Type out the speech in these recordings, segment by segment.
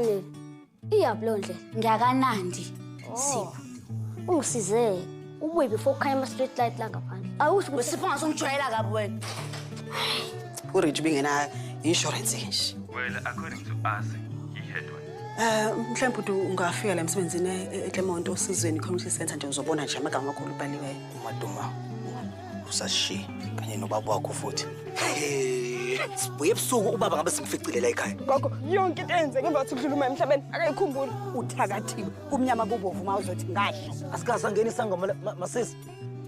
Ngifanele. Iyaphi lo ndlela? Ngiyakanandi. Oh. Sipho. Ungisize. Ubuye before kukhanya ama street light la ngaphandle. Awusho ukuthi Sipho ngasongijwayela kabi wena. Urich bingena insurance nje. Well, according to us, he had one. Eh mhlawumbe uthi ungafika la emsebenzini e- eClermont osizweni community center nje uzobona nje amagama amakhulu ubhaliweyo. Umaduma. usashiye kanye nobaba wakho futhi sibuye ebusuku ubaba ngabe simficile la ekhaya gogo yonke into eyenzeke ngemva kokuthi kudlula uma emhlabeni akayikhumbuli uthakathiwe kumnyama kubovu uma uzothi ngadla asikaze angeni isangoma masisi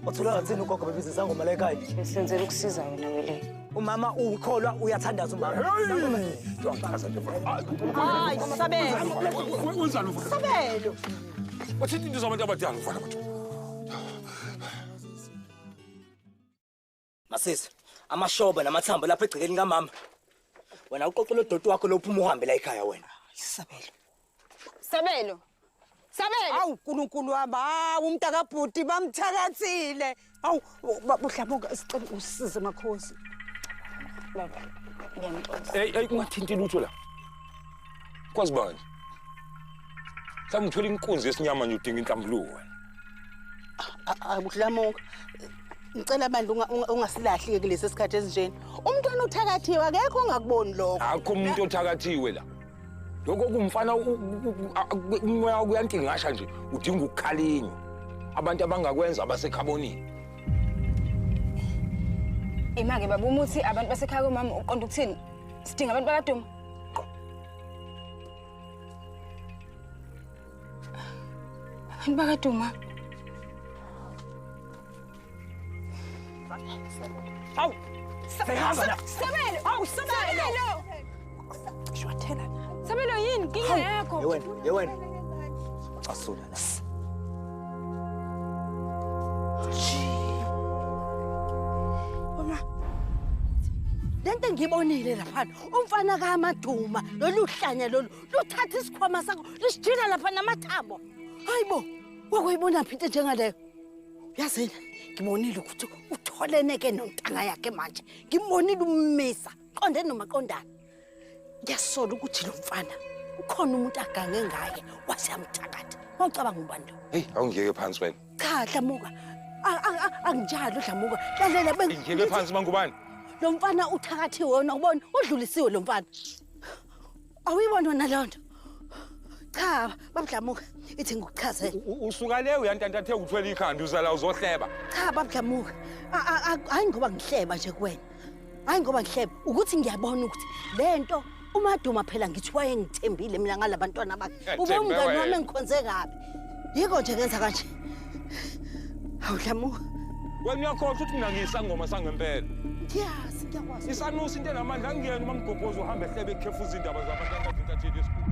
wathola ngathini ugogo bebiza isangoma la ekhaya senzela ukusiza wena wele umama ukholwa uyathandaza umama hayi sabelo sabelo uthini into zabantu abadala mfana bathu Masisi, amashoba namathambo lapha egcekeni kamama. Wena uqoqe lo doti wakho lo phuma uhambe la ekhaya wena. Isabelo. Sabelo. Sabelo. Awu uNkulunkulu wami, hawu umntaka bhuti bamthakathile. Awu babuhlamuka sicela usize makhosi. Baba, ngiyamxosa. Hey, hey ungathinti lutho la. Kwazi bani? mhlawumbe uthola inkunzi yesinyama nje udinga inhlambuluko wena akudlamuka ngicela bandla ungasilahlike kulesi sikhathi esinjeni umntwana uthakathiwe akekho ongakuboni lokho akho umuntu othakathiwe la lokho kumfana umoya kuyantingasha nje udinga ukukhalinywa abantu abangakwenza abasekhabonini imake baba umuthi abantu basekhaya komama uqonda ukuthini sidinga abantu bakaduma Abantu bakaduma. Awu. Sehamba la. Sabelo. Awu Sabelo. Shwathela. Sabelo yini kinga yakho? Yewena, yewena. Asula la. Uma. Lento engibonile lapha umfana kamaduma lolu hlanya lolu luthatha isikhwama sakho lisijila lapha namathambo hayi bo wakuyibona phi into njengaleyo yazini ngibonile ukuthi utholeneke nontanga yakhe manje ngibonile ummisa qonde nomaqondana ngiyasola ukuthi lo mfana ukhona umuntu agange ngaye wase yamthakatha wawucabanga ubani lo heyi awungiyeke phansi wena cha dlamuka A- a- a- anginjalo dlamuka lalela beng- Ngeke phansi mangubane. lo mfana uthakathiwe wona ubona udlulisiwe lo mfana awuyibona wena leyo nto cha babudlamuka ithi ngikuchazele U- u- Usuka le uyantantathe uthwele ikhanda uzala uzohleba. cha babudlamuka A- a- a- hhayi ngoba ngihleba nje kuwena hayi ngoba ngihlebe ukuthi ngiyabona ukuthi le nto umaduma phela ngithi wayengithembile mina ngala bantwana bakhe Eh, ube Themba umngani wena. wami engikhonze kabi yiko nje ngenza kanje hawu dlamuka Wena uyakhohlwa ukuthi mina ngiyisangoma sangempela. ngiyazi ngiyakwazi Isanusi into enamandla angiyena uma mgobhoza uhamba ehlebe ekhefuza indaba zabantu abathi intatheli yesibhuku.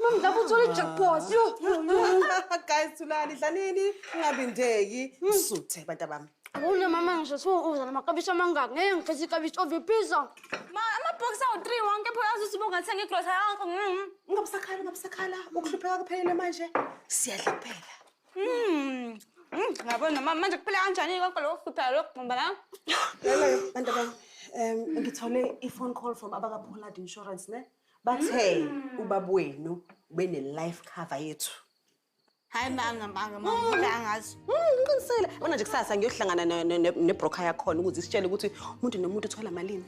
Mom, lapho uthole i-jackpot. Yo, yo, yo. guys thulani dlanini ungabindeki msuthe abantu abami Awuna mama ngisho siwuza namakabishi amangaki. Ngeke ngifise ikabishi oviphiza. Ma, amabhokisi awu-three wonke pho yazi usuba ungathenga igrosa yakho. Mm. ungabusakhala ungabusakhala ukuhlupheka kuphelele manje siyadla kuphela Mm. Mm, Ngabona mama manje kuphela kanjani konke lokho kuhlupheka lokho gqumba la. lelo bantu abami um ngithole i-phone call from abaka-pollard insurance ne bathe ubaba wenu ubene life cover yethu hayi manga manga manga angazi ngiqinisele bona nje kusasa ngiyohlangana ne- ne- ne- nebroker yakhona ukuze isitshele ukuthi umuntu nomuntu uthola malini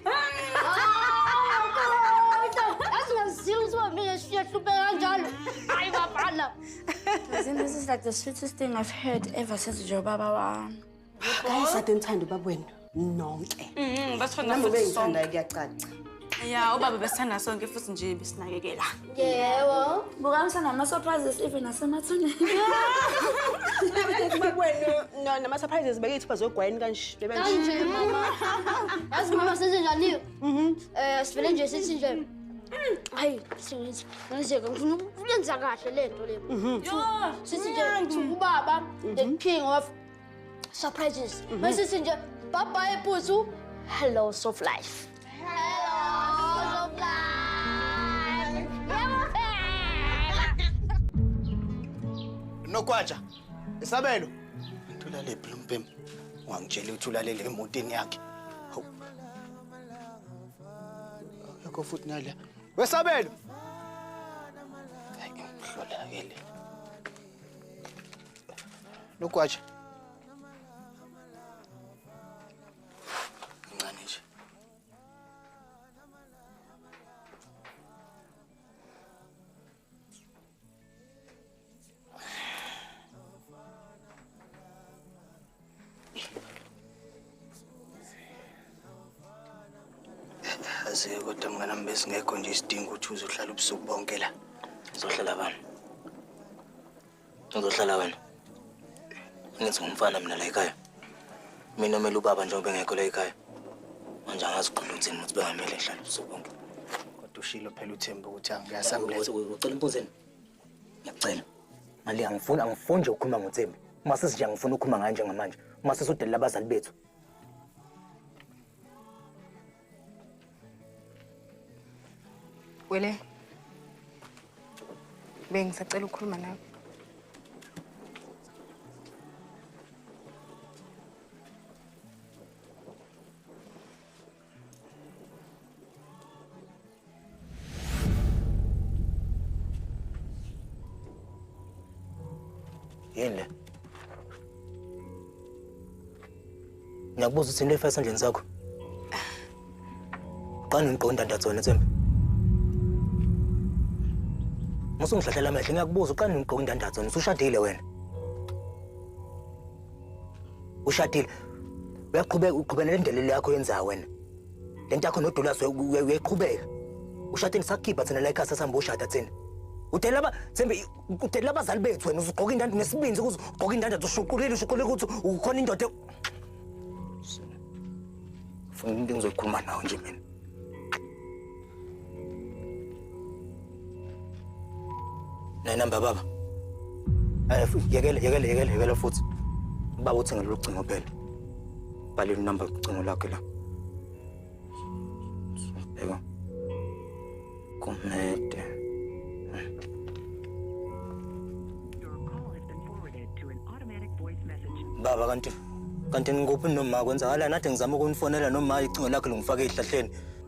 Asingazile ukuthi bamile siyahlupeka kanjalo. Hayi babhala. This is like the sweetest thing I've heard ever since Joe Baba wami. Ayisade nithanda ubaba wenu nonke. Mhm, basithanda Nami futhi bengithanda sonke. kuyacaca. Ya, ubaba besithanda sonke futhi nje besinakekela. Yebo. Buka msana ama surprises even asemathuneni. Ubaba wenu no- nama surprises bekethu bazogwayini kanje. Bebe nje. Kanje mama. Yazi mama senze njani? Mhm. Eh sivele nje sithi nje. Hayi, singenze. Ngizeke ngifuna ukuyenza kahle lento le. Mhm. Yo, Sithi nje ubaba the king of Surprises. Mm -hmm. Messenger. Bye bye, Puzu. Hello, Soft Life. nokwatsha isabelo ntulalephi lo mpempe wangitshela ukuthi ulalele emotini yakhe hawu yakho futhi nale wesabelo hayi ngihlola ke le Lugwaja. Mncane nje. Aziyo kodwa mnganami besingekho nje isidingo ukuthi uzohlala ubusuku bonke la. Uzohlala bani? Uzohlala wena. Ngithi ngumfana mina la ekhaya. Mina omele ubaba njengoba engekho la ekhaya. Manje angazi uqonda ukuthini ukuthi bengamele ngihlale usuku bonke. Kodwa ushilo phela uThemba ukuthi angiyasamletha. Ucela impuzeni. Ngiyacela. Mali angifuni angifuni nje ukukhuluma ngoThemba. Uma sesinje angifuni ukukhuluma ngaye njengamanje. Uma sesudelela abazali bethu. Wele. Bengisacela ukukhuluma nawe. yini le ngiyakubuza ukuthi into efaka esandleni sakho qani ngiqonda ndatsona tsembe musa ungihlahlela amehlo ngiyakubuza uqani ngigqoka indandatho usushadile wena ushadile uyaqhubeka uqhubela le ndlela yakho yenza wena Le nto yakho noDulas uyayiqhubeka. Ushade nisakhipha thina la ekhaya sasihamba ushada thina. Udela laba Thembi udela abazali bethu wena uzugqoka indanda nesibindi ukuze ugqoke indanda ushuqulile ushuqulile ukuthi ukhona indoda. Funa into engizoyikhuluma nawe nje mina. Nayi number baba. Eh yekele yekele yekele yekele futhi. Baba uthi ngalolu cingo phela. Bhala inumber ucingo lakhe la. Bheka. Kumede. Baba kanti kanti ngikuphi noma kwenzakala nathi ngizama ukunifonela noma icingo lakhe longifaka ehlahleni.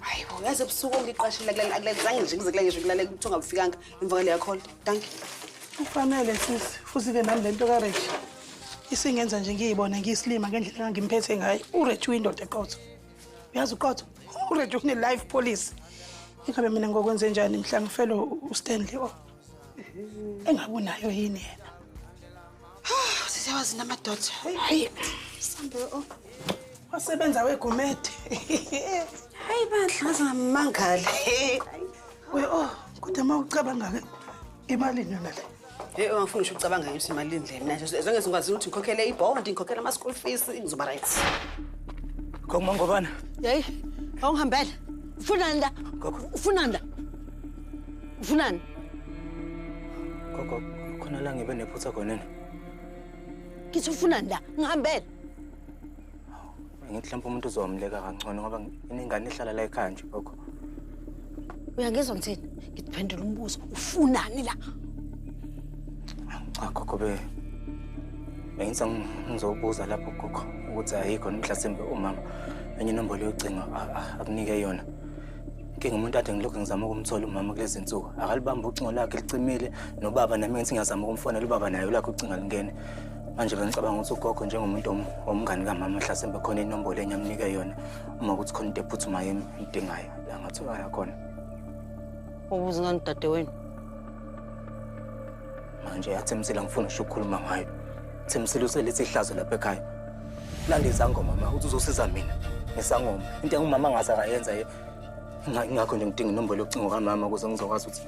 hayi bo yazi ebusuku ongiqashile akulenzange nje ngize kula ngisho kulalela ukuthi ungabufikanga emva kwaleya call danki ufanele sisi futhi-ke nami le nto kareji isingenza nje ngiyibona ngiyisilima ngendlela engangimphethe ngayo ureji uyindoda eqotho uyazi uqotho ureji une-life policy ingabe mina ngokwenze njani mhla ngifelo ustanley o oh. engabe unayo yini yena sisewazi namadoda hayi sambe o wasebenza wegumede hayi bandla ngaze ngamangale we o oh, kodwa uma ucabanga-ke imalini yona le Hey, angifuni ngisho ucabanga nje ukuthi imali indle mina nje zonke ngizokwazi ukuthi ngikhokhele ibond ngikhokhele ama school fees ngizoba right Ngoma ngobana. Hey, awungihambela. Ufunani la? Ufunani la? Ufunani? Gogo, khona la ngibe nephutha khona ni. Ngithi ufunani la? Ngihambele. Ngithi mhlawumbe umuntu uzomleka kangcono ngoba inengane ehlala la ekhaya nje gogo. Uyangizwa ngithini? Ngiphendula umbuzo. Ufunani la? Cha gogo be. Bengithi ngizobuza lapho gogo ukuthi ayikho mhlasimbe umama enye inombolo yocingo akunike yona. inkinga umuntu ade ngilokhu ngizama ukumthola umama kulezi nsuku akalibambi ucingo lakhe licimile nobaba nami ngithi ngiyazama ukumfonela ubaba naye ulakhe ucinga lingene manje bengicabanga ukuthi ugogo njengomuntu womngani kamama hlasembe khona inombolo enye amnike yona uma ukuthi khona into ephuthumayo emdingayo la ngathokala khona ubuze ngani dadewenu manje yathemsile angifuni usho ukukhuluma ngayo themsile uselethi ihlazo lapha ekhaya landa izangoma ma ukuthi uzosiza mina ngesangoma into engumama angaze akayenza ingakho nje ngidinga inombolo yocingo kamama ukuze ngizokwazi ukuthi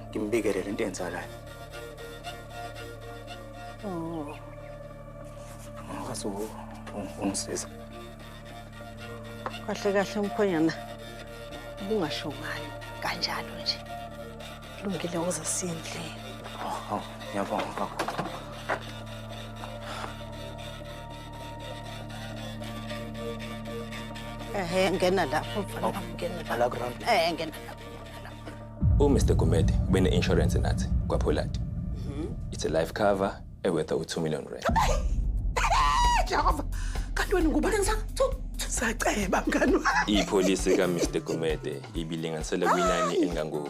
ngimbikele le nto enzakalayo oh. ngakwazi ungisiza kahle kahle umkhonyana ubungasho ngani kanjalo nje lungile uza siyendlini oh, oh, ngiyabonga baba Eh ngena lapho mfana wami, ngena lapho. Ala ground. Eh ngena lapho. ngena lapho. umr gumede ubene-insurance nathi kwapholati it's a life cover ewetha u-2 million rand Jehova. Kanti wena ngubani sa? Saceba mngani wami. ipholisi kamr gumede ibilinganisele kwinani engango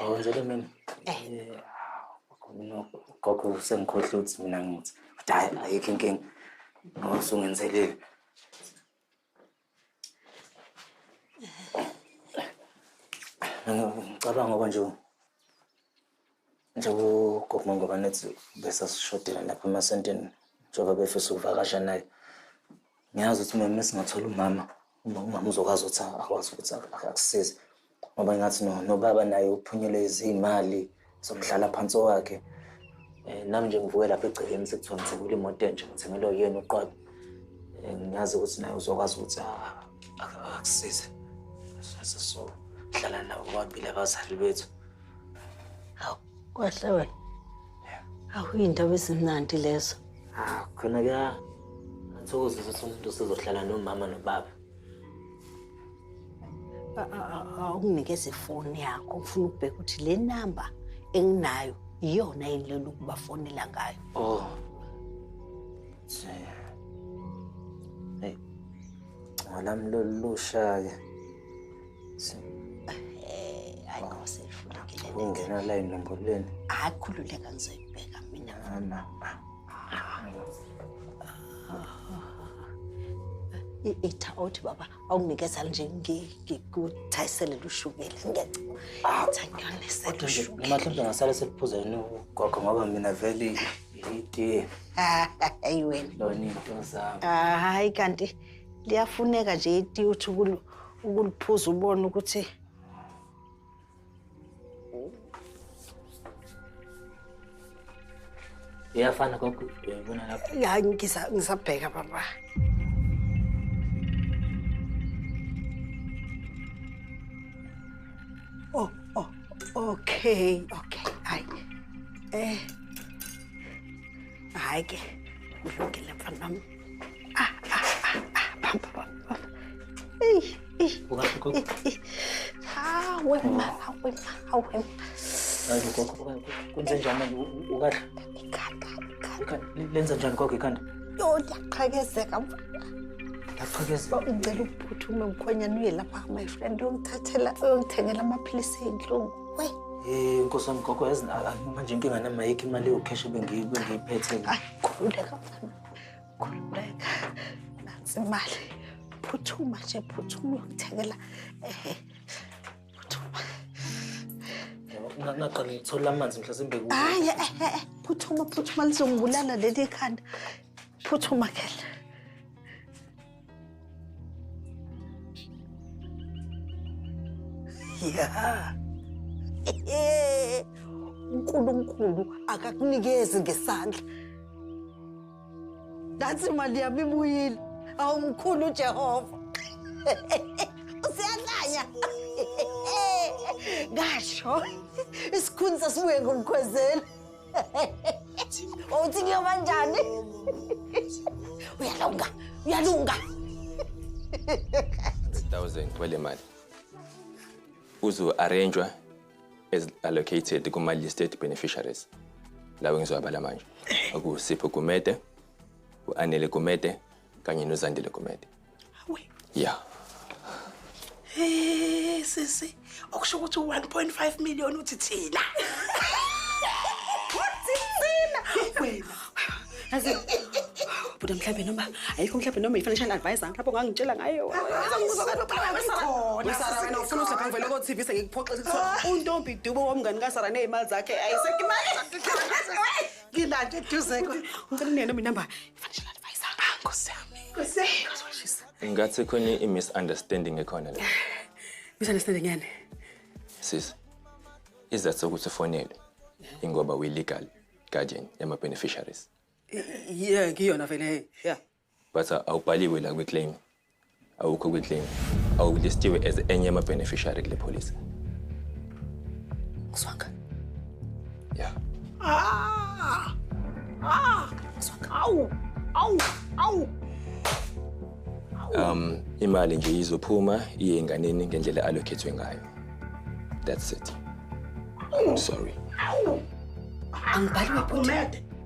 awenzele mina gogo usengikhohle ukuthi mina ngithi hayi ayikho inkinga ngoba usungenzelile ngicabanga ngoba nje njengoba gogo ngoba nethi bese sishodela lapha emasentini njengoba befisa ukuvakasha naye ngiyazi ukuthi mama singathola umama uma umama uzokwazi ukuthi akwazi ukuthi akusize ngoba ngathi nobaba naye uphunyelwe izimali zomhlala phansi wakhe eh, nami nje ngivuke lapha egcekeni sekuthiwa ngithengile imoto entsha ngithengelwe yena uqobo eh, ngiyazi ukuthi naye uzokwazi ukuthi akusize so hlala nabo kwabili abazali bethu Hawu, kwahle wena. Hawu, iy'ndaba ezimnandi lezo. Ah, khona kuya athokozisa ukuthi umuntu usezohlala nomama nobaba. Awunginikeze ifoni yakho, ngifuna ukubheka ukuthi le namba enginayo iyona yini lelo ukubafonela ngayo. Oh. Hey. Ngolami lolusha-ke. hayi ngose ifundukile ningena la inlambuleni hayi khululeka ngizoyibheka mina mama itha othi baba awunginikeza nje ngikuthayisele lushukela ngiyacamahlawumbe ngasale seliphuza yini ugogo ngoba mina vele itiye hayi wena lona into zami hayi kanti liyafuneka nje itiye uthi ukuliphuza ubone ukuthi iyafana gogo uyayibona lapho ya ngisa- ngisabheka baba oh, oh, okay okay hayi eh hayi ke kulungile mfana wami Ah, ah, ah, ah, bamba, bamba. Ey, ey. Ungahle gogo. Ah, wema, ah, wema, ah, wema. Hayi gogo. Kwenze njani manje? Ukahle. Ikhanda, ikhanda. Lenza njani gogo ikhanda? Yo, ndiyaqhakezeka mfana. Ndiyaqhakezeka. Ngicela uphuthume mkhwenyana uye lapha my friend uyongithathela uyongithengela amaphilisi ey'nhlungu. We. Eh, Nkosi wami gogo yazi manje inkinga namayikho imali yokheshi bengiyiphethe. Ay, khululeka mfana. khululeka nansi imali phuthuma nje phuthuma uyokuthengela ehe phuthuma ngaqala ngithola amanzi mhlasimbe kuwe hayi ehe eh, eh, eh, phuthuma phuthuma lizongibulala leli khanda phuthuma kela ya unkulunkulu akakunikezi ngesandla ngathi imali yami ibuyile awumkhulu ujehova usiyahlanya ngasho isikhuni sasibuye ngomkhwezeli Uthi kuyoba njani? Uyalunga, uyalunga. 100,000 kwele mali. Uzo arrangewa as allocated kuma listed beneficiaries. Lawo ngizobala manje. Okusipho Gumede, uAnele Gumede kanye noZandile Gumede. Hawe. Yeah. Hey sisi, okusho ukuthi 1.5 million uthi thina. Uthi thina. Wena. Azi. Buda mhlawumbe noma ayikho mhlawumbe noma i-financial advisor mhlawumbe ongangitshela ngayo. Wesara wena ufuna uhlapha ngivele ko TV sengikuphoxe ukuthi untombi dubo womngani ka Sara nezimali zakhe ayisekho imali. Ngilande eduze. Ngicela nene noma inamba ngathi khona i-misunderstanding ekhona la misunderstanding yani sis izathu sokuthi ufonele ingoba uyi-legal guardian yama-beneficiaries yeah ngiyona vele yeah but uh, awubhaliwe la kwi-claim awukho kwi-claim awulistiwe as enye yama-beneficiary kule policy Kuswanga. ya Ah! Ah! Kuswanga. Awu! Awu! Awu! um imali nje izophuma iye enganeni ngendlela allocathwe ngayo that's it sorry Angibhali webhuti. Umede.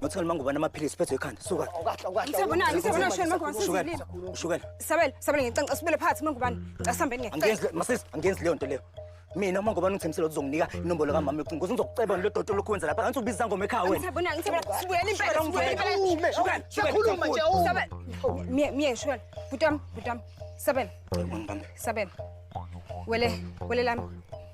Ngathi ngani mangubani amaphilisi phethwe ekhanda. Suka. Ukahle ukahle. Ngisabonani ngisabonani shona mangubani sesizilile. Ushukela. Sabela sabela ngicanca sibele phansi mangubani. Casambeni ngeke. Angenzi masisi angenzi leyo nto leyo. Mina uma ngubani ungithembisela ukuthi uzonginika inombolo kamama yocingo kuze ngizokuceba ngilo dodo lokhu wenza lapha ngathi ubiza ngoma ekhaya wena. Ngisabonani ngisabonani sibuyela impela sibuyela impela. Shukela. Sikhuluma nje u. Sabela. Miye miye shukela. Butam butam. Sabela. Sabela. Wele wele lami.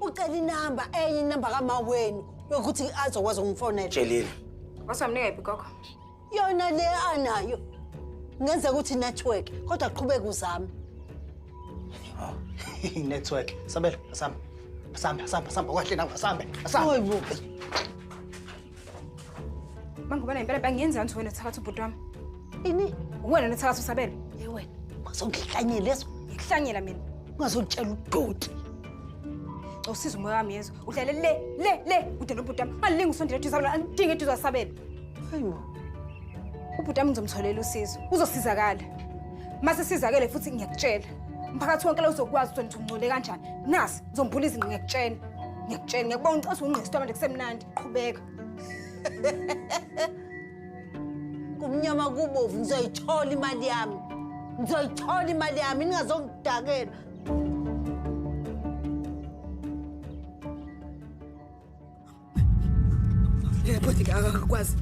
ucela inamba enye inamba kama wenu yokuthi azokwazi ukumfonela tshelile wasamnika yiphi gogo yona le anayo ngenzeka ukuthi network kodwa qhubeka uzame network sabela asamba asamba asamba asamba kwahle nawe asambe asambe Mangubane impela bangenza nje wena thakatha ubhuti wami. Ini? Wena nethakatha usabele. Hey wena, bazongihlanyela leso. Ngihlanyela mina. Ungazotshela udoti. Usiza umoya wami yezwa. Udlale le le le ude nobhuti wami. Angilingi usondela eduze wami, angidingi eduze wasabele. Hayibo. Ubhuti wami ngizomtholela usizo. Uzosizakala. Mase sizakele futhi ngiyakutshela. Umphakathi wonke la uzokwazi ukuthi ungcole kanjani. Nasi ngizombhula izinqe ngiyakutshela. Ngiyakutshela ngiyakubona uqasa ungqesto manje kusemnandi. qhubeka kumnyama kubovu ngizoyithola imali yami ngizoyithola imali yami ningazongidakela yebodike akakwazi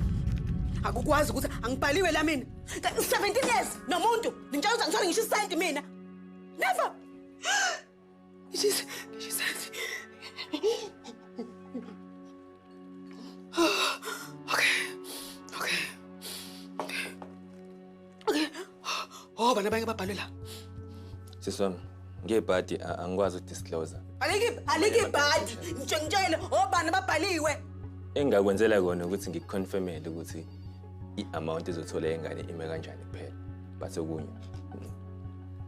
akukwazi ukuthi angibhaliwe la mina 17 years nomuntu ngitshela ukuthi angithole ngisho isenti mina never khona abanye ababhalwe la sisi wami ngebhadi angikwazi udisclose alike ibhadi ngitsho ngitshele obani ababhaliwe engingakwenzela kona ukuthi ngikuconfirmele ukuthi i-amount ezothola ingane ime kanjani kuphela but okunye